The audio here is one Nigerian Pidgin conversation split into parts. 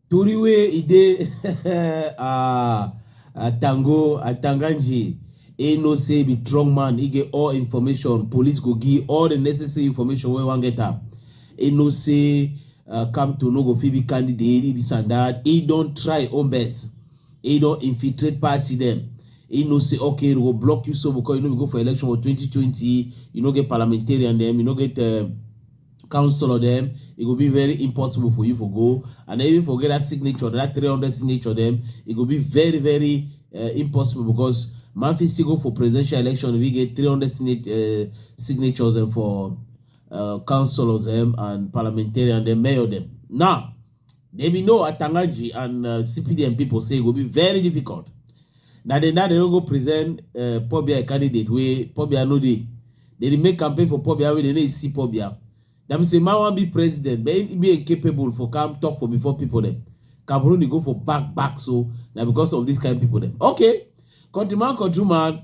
tori wey e dey ah, atango atanganji e know say e be strong man e get all information police go give all the necessary information wey wan get am e know say uh, come to no go fit be candidate e be sandard e don try own best He don infiltrate party dem. He know say okay, we go block you so because you no be go for election for 2020. You no get parliamentarian dem. You no get uh, councillor dem. It e go be very impossible for you for go. And even forget that signature, that 300 signature dem. It e go be very very uh, impossible because man fit still go for presidential election if he get 300 signature, uh, signatures and for uh, councillors them and parliamentarian dem, mayor dem. Now. They be know Atangaji and uh, CPDM people say it will be very difficult. Now they now they don't go present uh, Pobia candidate where Pobia no dey. They dey make campaign for Pobia where they no see Pobia. Them say man wan be president, but he be incapable for come talk for before people them. Cameroon dey go for back back so na because of this kind of people dem. Okay, countryman countryman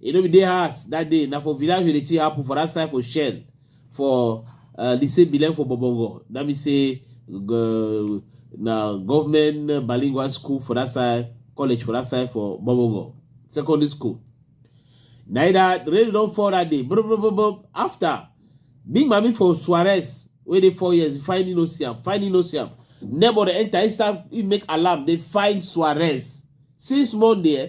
e no be dey house that day na for village wey the thing happen for that side for shell for uh, the same bilem for bobongo that mean say uh, na government bilingual school for that side college for that side for bobongo secondary school na e that rain don fall that day bro bro bro bro after big mami for suarez wey dey four years finally no see am finally no see am neighbor dey enter instead he make alarm dey find suarez since monday eh,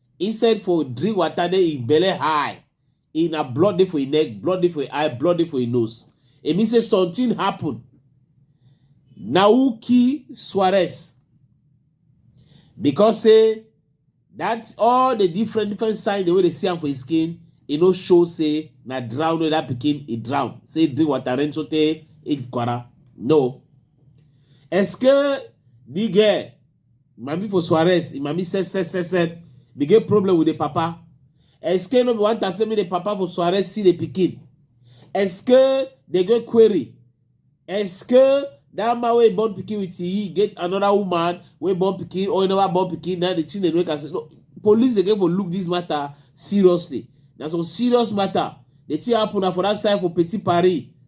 He said for drink water, then he belly high. He na blood dey for his neck, blood dey for his eye, blood dey for his nose. It means say something happen. Na who kill Suarez? Because say that all the different different signs the way they see am for his skin, e no show say na drown wey that pikin e drown. Say drink water rain so tey e kwara. No. Eske the girl Mami for Suarez, Mami said, said, said, said, they get problem with the papa. Est-ce que no be one time me the papa for Suarez see the pikin? Est-ce que they get query? Est-ce que that man wey born pikin with he get another woman wey born pikin or never born pikin na the thing dey make am say no police dey get for look this matter seriously na some serious matter the thing happen na for that side for petit paris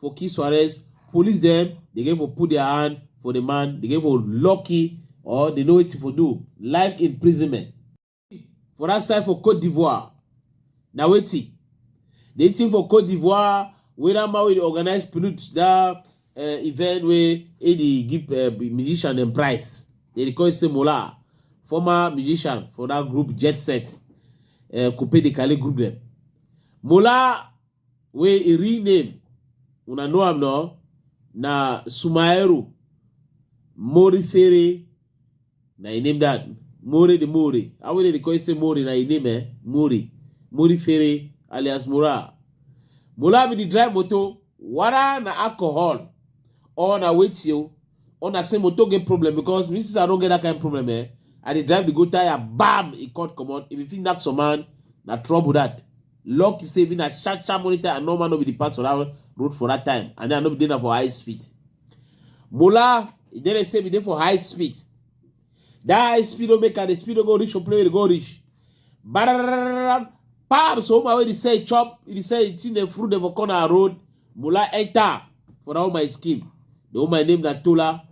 for kiss to arrest police dem dey get for put their hand for the man dey get for lucky or dey know wetin for do life imprisonment for that side for cote d'ivoire na wetin the thing for cote d'ivoire wey that man wey dey organize pollute that uh, event wey he dey give uh, musician dem price they dey call him say mola former musician for that group jet set uh, coupe de kale group dem mola wey im real name una know am now na Sumaero Morifere na im name that More the More how wey dem dey call you say More na im name eh More Morifere alias Mora Mola be the drive motor wara na alcohol or na wetin o or na say motor get problem because me since I don get that kind problem eh I dey drive the go tire bam e cut comot if you fit knack some man na trouble that Lucky say even a sharp sharp monitor and normal no be the part for that road for that time and then I no be there for high speed. Mola, e dey say be there for high speed. That high speed no make am, the speed no go reach your play, go reach. Barararararam. Pam, so my way they say chop, they say it's in the fruit of a corner road. Mola enter for all my skin. The whole my name na Tola.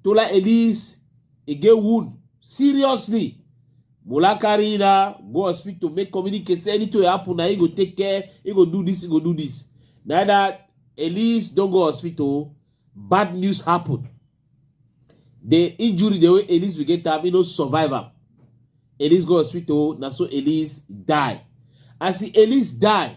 Tola Elise, he get wound seriously. Mola carry na go hospital make communicate say anything wey happen na he go take care, he go do this, he go do this. Na that Elise don go hospital, bad news happen. The injury the way Elise we get am, he no survive am. Elise go hospital, na so Elise die. As Elise die,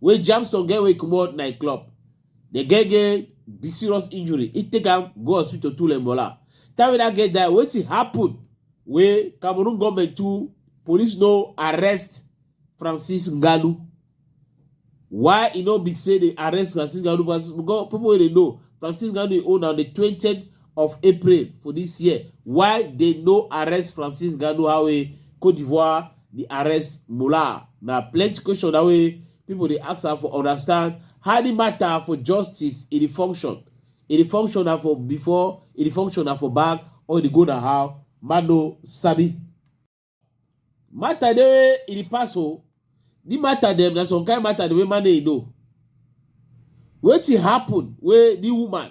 wey jam some girl wey comot night club the girl get big serious injury e take am go hospital to lembola time wey that girl die wetin happen wey cameroon government too police no arrest francis ngalu why e no be say dey arrest francis ngalu because because people wey dey know francis ngalu dey own on the twentieth of april for this year why dey no arrest francis ngalu how e cote d'ivoire di arrest Mulah na plenty question na wey pipo dey ask am for understand how di matter for justice e dey function e dey function na for before e dey function na for back or e dey go na how man no sabi matter dey wey e dey pass o di matter dem na some kind matter dem wey man no know wetin happen wey di woman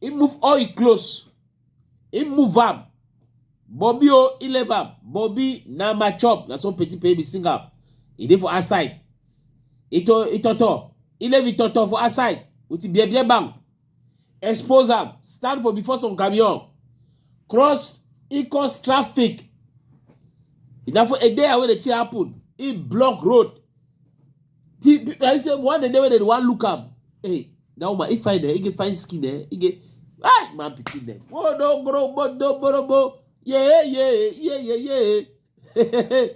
He move all his clothes. He move am. Bobby o, he leave am. Bobby na my chop. Na so Petit Pay be sing am. He dey for outside. Ito itoto. He leave itoto for outside with the bebe bang. Expose am. Stand for before some camion. Cross he cause traffic. Na for a day wey the thing happen. He block road. The, I say one day when they want look up, hey, that woman, if I there, he can find skin there, he can, ah, man, picking them. Oh no, bro, bro, bro, bro, bro, yeah, yeah, yeah, yeah, yeah.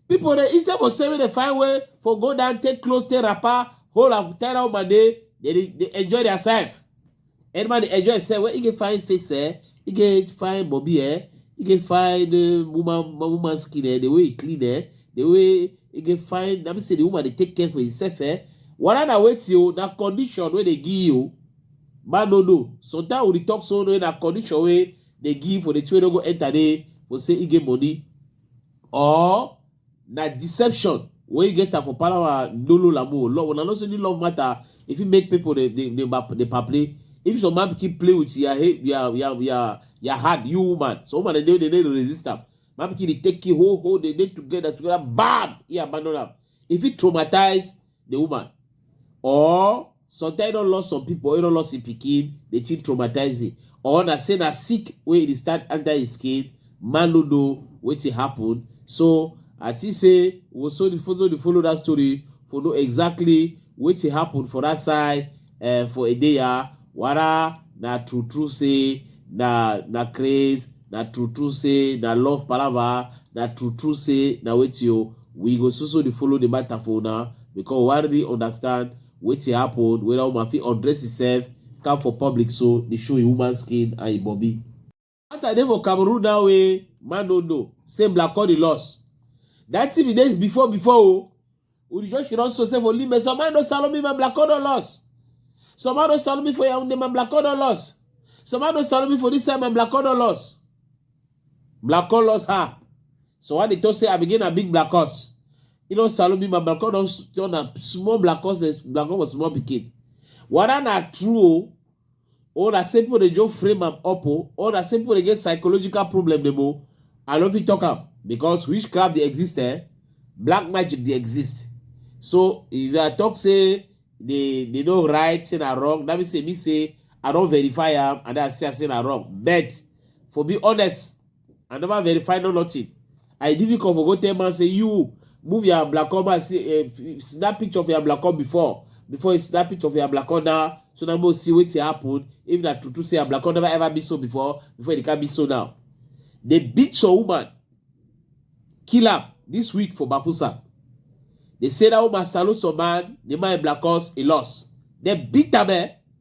People, they, instead of saving the fine way for go down, take clothes, take wrapper, hold up, tie out my day, they, they enjoy their self. Any man dey enjoy himself when he get fine face, eh? He get fine bobby, eh? He get fine uh, woman woman skin, eh? The way he clean, eh? The way he get fine. Let me say the woman dey take care for himself, eh? Whether na wetin o, na condition wey dey give you o. Man no know. Sometimes we dey talk so wey na condition wey dey give for the two wey no go enter dey for say he get money or na deception wey get am for palawa ndolo lamu love una know say the love matter e fit make people dey dey dey bap- dey paple if some man pikin play with your head your your your your hand you woman some woman dey dey dey dey resist am man pikin dey take you ho ho dey dey together together bam e abandon am e fit traumatize the woman or sometimes e don lost some people e don lost im pikin the thing traumatize him or na say na sick wey e start enter him skin man no know wetin happen so i think say we so the follow the follow that story for know exactly wetin happen for that side uh, for a day ya ah, wara na true true say na na craze na true true say na love palava na true true say na wetin you oh, we go so so dey follow the matter for una because we really understand wetin happen whether woman fit undress herself come for public so dey show im woman skin and im body. That I dey for Cameroon now wey man no know. Say Black Cody lost. That thing be days before before o. We just should also say for Limbe. Some man no sell me man Black Cody lost. Some man no sell me for Yaoundé man Black Cody lost. Some man no sell me for this side man Black Cody lost. Black Cody lost her. So why they talk say I begin a big Black Cody. You know sell me man Black Cody don turn a small Black Cody. Black Cody was small pikin. Whether na true o. All that say people dey just frame am up o. All that say people dey get psychological problem dem o. I no fit talk am because witchcraft dey exist eh. Black magic dey exist. So if I talk say they they no right, say na wrong, that mean say me say I don verify am and then I see am say na wrong. But for be honest, I never verify no nothing. I didn't come for go tell man say you move your black cob and see, uh, snap picture of your black cob before before you snap picture of your black cob now so now we'll see what happen if that true true say your black cob never ever be so before before it can be so now. They beat your woman, kill her this week for Bapusa. They say that woman salute some man, the man black horse, he lost. They beat her man.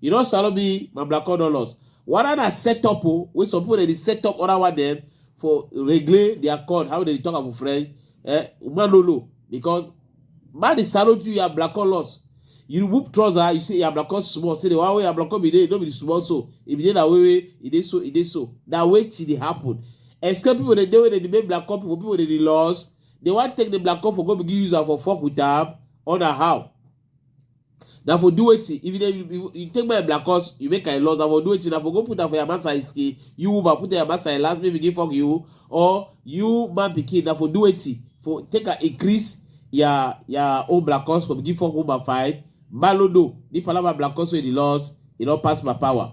You know, Salobi, my black dollars. What are the setup oh, wey some people dey set up other one them for regulate their code? How they talk about French? Eh, Manolo, because man dey salute you, you are black dollars. You remove trouser, you say you are black dollars small. Say the one way you are black dollars be there, no be the small so. If you dey that way, way it is so, it is so. That way till it happen. Escape people dey dey wey dey make black dollars people, people dey dey lost. They want take the black dollars for go begin use am for fuck with am. On a how? na for do wetin if you dey you, you take my black horse you make i loss na for do wetin na for go put am for your man side skin you woman put your man side last make begin fuck you or you man pikin na for do wetin for take am increase your your own black horse for begin fuck woman fine malodo the palava black horse wey dey loss e don pass my power.